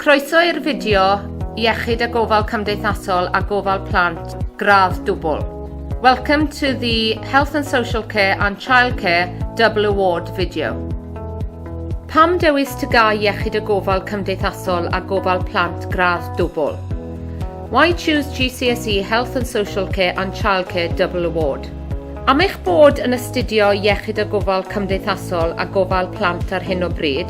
Croeso i'r fideo Iechyd a Gofal Cymdeithasol a Gofal Plant, gradd dwbl. Welcome to the Health and Social Care and Childcare Double Award video. Pam dewis TGA Iechyd a Gofal Cymdeithasol a Gofal Plant gradd dwbl? Why choose GCSE Health and Social Care and Childcare Double Award? Am eich bod yn astudio Iechyd a Gofal Cymdeithasol a Gofal Plant ar hyn o bryd,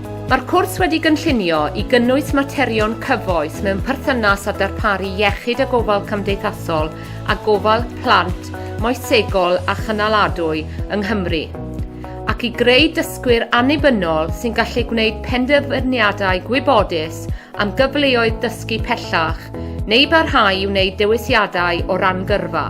Mae'r cwrs wedi gynllunio i gynnwys materion cyfoes mewn perthynas â darparu iechyd a gofal cymdeithasol a gofal plant moesegol a chynaladwy yng Nghymru, ac i greu dysgwyr annibynnol sy'n gallu gwneud penderfyniadau gwybodus am gyfleoedd dysgu pellach neu barhau i wneud dewisiadau o ran gyrfa.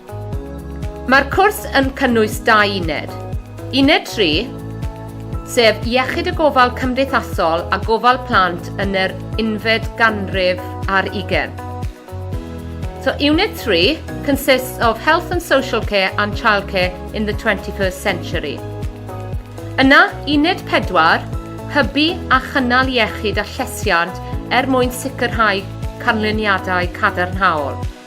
Mae'r cwrs yn cynnwys dau uned. Uned 3, sef Iechyd y Gofal Cymdeithasol a Gofal Plant yn yr unfed ganrif ar ugen. So Unit 3 consists of Health and Social Care and Childcare in the 21st Century. Yna, Uned 4, Hybu a chynnal iechyd a llesiant er mwyn sicrhau canlyniadau cadarnhaol.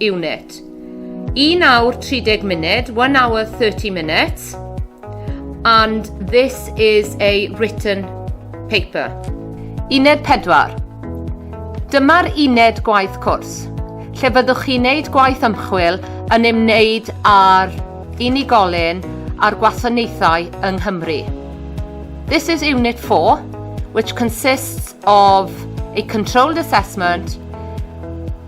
unit. 1 awr 30 munud, 1 hour 30 minutes. And this is a written paper. Uned 4. Dyma'r uned gwaith cwrs, lle fyddwch chi'n neud gwaith ymchwil yn ymwneud â'r unigolyn a'r gwasanaethau yng Nghymru. This is Unit 4, which consists of a controlled assessment